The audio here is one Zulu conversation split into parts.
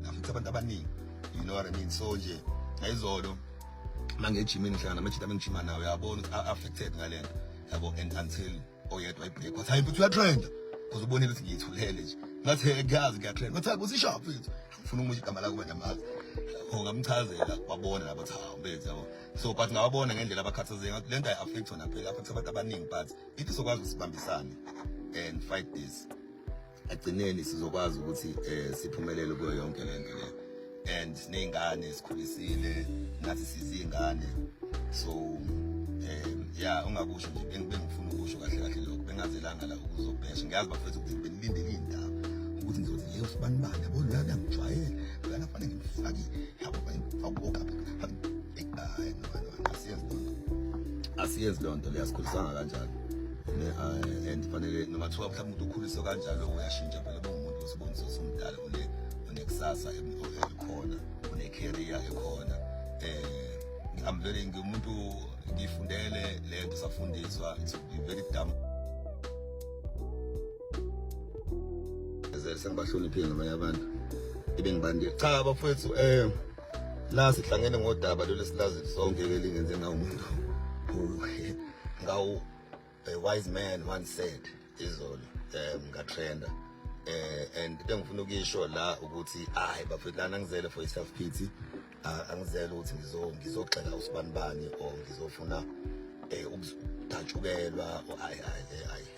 ngamthe abantu abaningi you know what i mean so nje ngayizolo mangejimini ngihlangana namajita bengijima nawo yabona ukuthi affected ngalento yabo and until oyedwa ibreak wathi hayi futhi uyatrenda because ubonile ukuthi ngiyithulele nje ngathi ngiyazi ngiyatrenda ngathi kusishaphi mfethu ngifuna ukusho igama lakho manje amazi ngamchazela wabona labo cha mfethu yabo so but ngawabona ngendlela abakhathazeke ngathi lento ayi affect wona phela affect abantu abaningi but ithi sokwazi usibambisane and fight this agcineni sizokwazi ukuthi eh siphumelele kuyo yonke lento le and nezingane sikhulisile nathi sizingane so um yeah ungakusho nje bengifuna ukusho kahle kahle lokho bengazelanga la ukuzobhesha ngiyazi bafethu ukuthi benilindele indaba ukuthi ngizothi yebo sibanibani yabo la ngiyamjwayela nganafanele ngimfakile yabo bayifakuka hayi no asiyezi lonto asiyezi lonto leyasikhulisanga kanjalo ne eh, and fanele noma thiwa mhlawumbe umuntu ukhuliswa kanjalo uyashintsha phela bongumuntu osibonisa somdala une unekusasa elikhona une career ekhona eh ngivele ngimuntu ngifundele lento safundiswa it's very dumb sengibahloniphile nabanye abantu ebengibandile cha bafowethu um la sihlangene ngodaba lolu esilazi sonke ke lingenze na umuntu ngawu a wise man once said izolo um ngatrenda eh and into engifuna ukuyisho la ukuthi hayi bafethu lana ngizele for self pity ah, angizele ukuthi ngizo ngizogxeka usibanibani or ngizofuna eh ukudatshukelwa hayi hayi hayi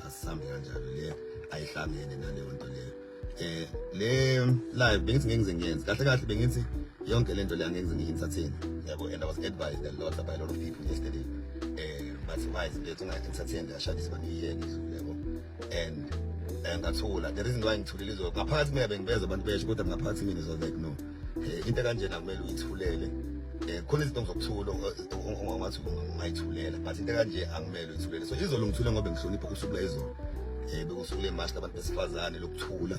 asihambi kanjalo le ayihlangene naleyo nto leyo eh le live bengithi ngeke ngize ngiyenze kahle kahle bengithi yonke lento le angeke ngize ngiyi-entertain yabo and i was advised a lot by a lot of people yesterday eh bathi why izinto lethu unga-entertain kashadisa baniyiyeke idlule yabo and eh, ngathula the reason why ngithulile izo ngaphakathi mina bengibeza abantu besho kodwa ngaphakathi mina is like no eh, into kanjena kumele uyithulele eh, khona izinto ngizokuthulo ongathi ungayithulela but into kanje angimele uyithulele so izolo ngithule ngoba ngihlonipha usuku lwezolo um eh, bekusuku lemashi labantu besifazane lokuthula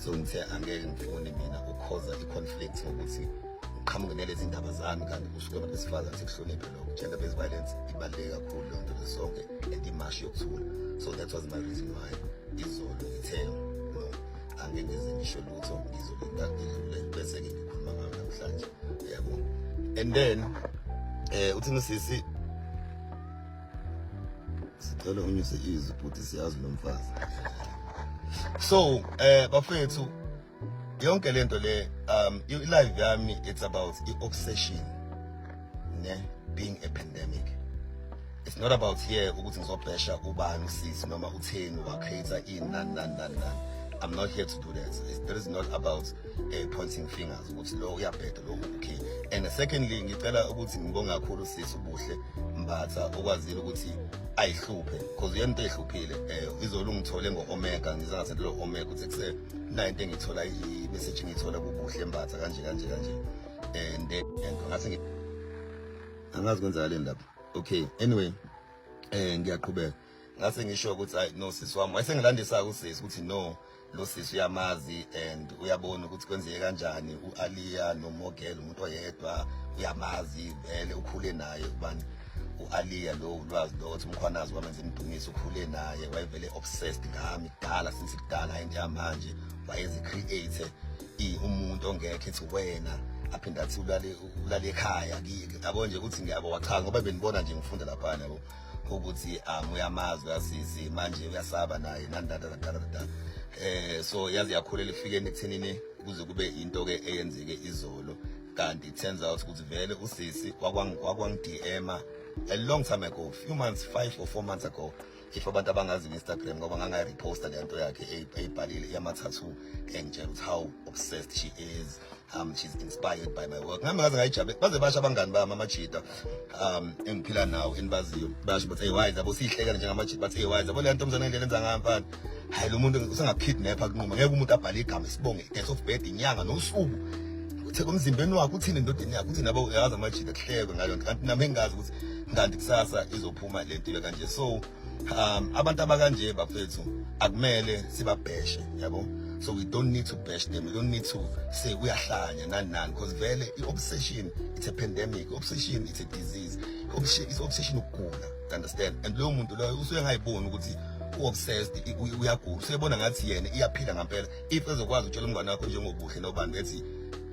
so ngithe angeke ngifuni mina ukukhoza i-conflict ngokuthi ngiqhamuke nalezi ndaba zami kanti kusuke abantu besifazane sikuhloniphe lokho gender based violence ibaluleke kakhulu leyo nto lesonke and imashi yokuthula so that was my reason why izolo ngithe angeke ngize ngisho lutho ngizobe ngakile bese ke ngikhuluma ngayo namhlanje yabo and then eh uthini usisi sicela unyuse izwi futhi siyazi lo mfazi so eh bafethu yonke lento le um i-live yami it's about i-obsession ne being a pandemic it's not about here ukuthi ngizobhesha ubani usisi noma utheni wacreator in nan nan nan nan I'm not here to do that. It's, that is not about uh, pointing fingers ukuthi lo uyabheda lo okay. And secondly ngicela ukuthi ngibonge kakhulu sisi ubuhle Mbatha okwazile ukuthi ayihluphe because uyena into ehluphile eh izolo ngithole ngo omega ngiza ngathi lo omega ukuthi kuse nine into engithola i message ngithola kubuhle Mbatha kanje kanje kanje and eh, and ngathi ngi angazi kwenzakaleni lapho okay anyway eh ngiyaqhubeka ngase ngisho ukuthi ay no sisi wami wayesengilandisa usisi ukuthi no lo sisi uyamazi and uyabona ukuthi kwenzeke kanjani uAliya noMogel umuntu oyedwa uyamazi vele ukhule naye ubani uAliya lo ulwazi lo ukuthi umkhwanazi wamenza imdumiso ukhule naye wayevele obsessed ngami kudala since kudala into yamanje wayezi create umuntu ongekho ethi wena aphinde athi ulale ulale ekhaya yabo nje ukuthi ngiyabo wachanga ngoba benibona nje ngifunda lapha yabo ukuthi um uyamazi uyasizi manje uyasaba naye nandadatadadatata um eh, so yaze yakhulela efikeni ekuthenini kuze kube into ke eyenzeke izolo kanti it turns out ukuthi vele usisi wakwang-dma a long time ago few months five or four months ago if abantu abangazi nge-instagram ngoba ngangayireposta le nto yakhe eyibhalile yamathathu engitshela ukuthi how obsessed she is um she's inspired by my work ngami ngaze ngayijabule baze basho abangani bami amajita um engiphila nawo enibaziyo basho bathi hey wise abo siyihlekela njengamajita bathi hey wise abo le nto mzane ngendlela enza ngayo mfana hayi lo muntu usengakukidnapha kunquma ngeke umuntu abhale igama isibonge death of bed inyanga nosuku uthe komzimbeni wakho uthini endodeni yakho uthini abo yazi amajita kuhlekwe ngalo nto kanti nami engazi ukuthi kanti kusasa izophuma lento ibe kanje so um abantu abakanje bafethu akumele sibabheshe yabo so we don't need to bash them we don't need to say uyahlanya nani nani because vele i-obsession it's a pandemic obsession it's a disease is obsession ukugula understand and loyo muntu loyo usuke engayiboni ukuthi u-obsessed uyagula usuyebona ngathi yena iyaphila ngampela if ezokwazi utshela umngane wakho njengobuhle nobani bethi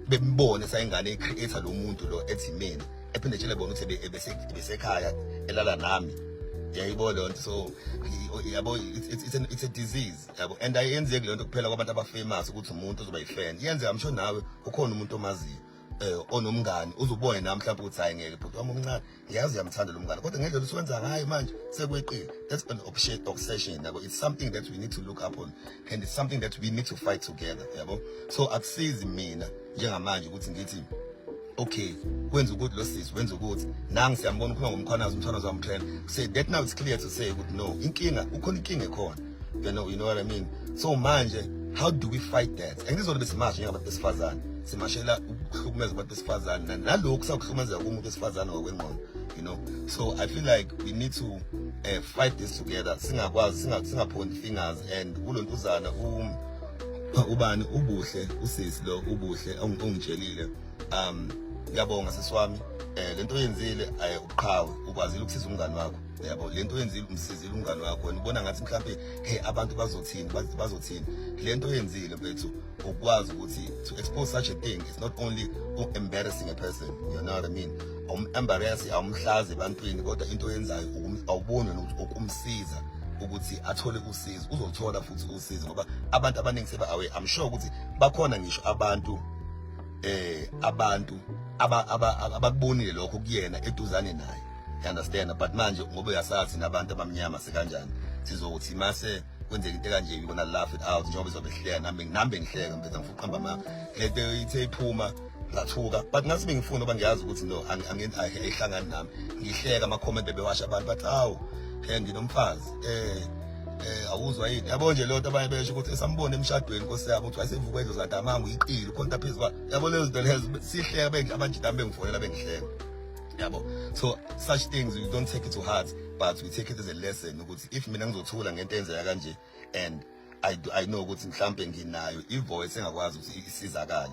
bembone sayingane i-creator lo muntu lo ethi mina ephinde tshele bona ukuthi ebesekhaya elala nami yayibona leyo nto so yabo it's a disease yabo and ayenzeki leyo nto kuphela kwabantu abafamous ukuthi umuntu uzoba yifan yenzeka msho nawe ukhona umuntu omaziyo eh onomngani uzubone nami mhlawumbe ukuthi hayi ngeke bhuti wami omncane ngiyazi uyamthanda lo mngane kodwa ngendlela usuwenza ngayo manje sekweqile that's an obsession obsession yabo it's something that we need to look up on and it's something that we need to fight together yabo so akusizi mina njengamanje ukuthi ngithi okay wenza ukuthi lo sisi wenza ukuthi nangi siyambona ukhuluma ngomkhwanazi umthwanazi wamtrend say that now it's clear to say ukuthi no inkinga ukhona inkinga ekhona you know you know what i mean so manje how do we fight that and ngizona besimasha njengabantu besifazane simashela ukuhlukumeza abantu besifazane nalokhu sakuhlukumezeka kumuntu wesifazane ngokwengqondo you know so i feel like we need to uh, fight this together singakwazi singaphondi fingers and kulontuzana um ubani ubuhle usisi lo ubuhle ongitshelile um ngiyabonga sisiwami eh lento oyenzile aye uqhawe ukwazile ukusiza umngani wakho yabo lento oyenzile umsizile umngani wakho wena ubona ngathi mhlawumbe hey abantu bazothini bazothini lento oyenzile mfethu ukwazi ukuthi to expose such a thing it's not only embarrassing a person you know what i mean awum embarrass awumhlazi ebantwini kodwa into oyenzayo awuboni ukuthi ukumsiza ukuthi athole usizo uzothola futhi usizo ngoba abantu abaningi seba away i'm sure ukuthi bakhona ngisho abantu eh abantu abakubonile lokho kuyena eduzane naye you understand but manje ngoba uyasazi nabantu abamnyama sekanjani sizothi mase kwenzeka into kanje yona laugh it out njengoba izobe ihleka nami nami bengihleka mfethu ngifuqamba ma le nto ithe iphuma ngathuka but ngathi bengifuna uba ngiyazi ukuthi no ayihlangani nami ngihleka ama-comment bebewasha abantu bathi awu um nginomfazi um eh awuzwa yini yabo nje lento abanye besho ukuthi esambone emshadweni nkosi yabo ukuthi wayesevuka endlu zadamanga uyiqile ukhonta phezu kwa yabo lezo zinto lezo sihleka bengi abanjidami bengifonela bengihleka yabo so such things you don't take it to heart but we take it as a lesson ukuthi if mina ngizothula ngento enzeka kanje and I, I know ukuthi mhlambe nginayo ivoice engakwazi ukuthi isizakale